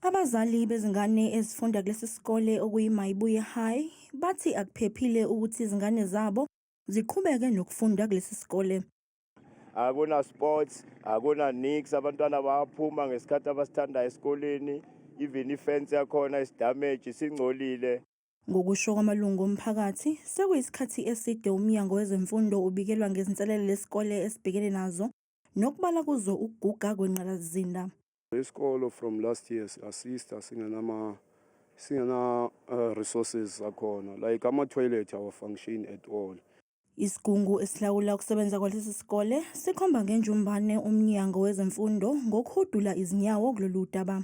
Abazali bezingane ezifunda kulesi sikole okuyiMayibuye High bathi akuphephile ukuthi izingane zabo ziqhubeke nokufunda kulesi sikole. Akuna sports, akuna nix, abantwana bayaphuma ngesikhathi abasithandayo esikoleni, even ifence yakhona is damage, singcolile. Ngokusho kwamalungu omphakathi, sekuyisikhathi eside umnyango wezemfundo ubikelwa ngezinselele lesikole esibhekene nazo nokubala kuzo ukuguga kwengqalasizinda. Isikolo from last year si-assista singenama singena uh, resources zakhona like ama-toilet awafunction at all Isigungu esilawula ukusebenza kwalesi sikole sikhomba ngenjumbane umnyango wezemfundo ngokuhudula izinyawo kulolu daba.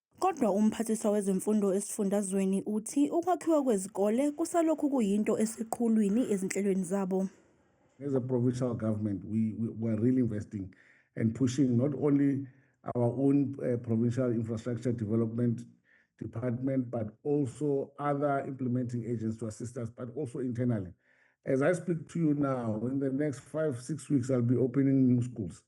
Kodwa umphathiswa wezemfundo esifundazweni uthi ukwakhiwa kwezikole kusalokhu kuyinto eseqhulwini ezinhlelweni zabo. As a provincial government, we, we, we are really investing and pushing not only our own uh, provincial infrastructure development department, but also other implementing agents to assist us, but also internally. As I speak to you now, in the next five, six weeks, I'll be opening new schools.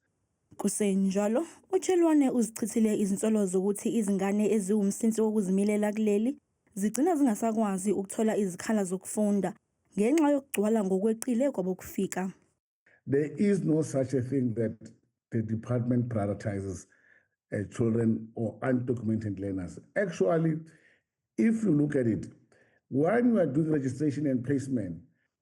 Kusenjalo, uChelwane uzichithile izinsolo zokuthi izingane eziwumsinsi wokuzimilela kuleli zigcina zingasakwazi ukuthola izikhala zokufunda ngenxa yokugcwala ngokweqile kwabokufika. There is no such a thing that the department prioritizes uh, children or undocumented learners. Actually, if you look at it, when you are doing registration and placement,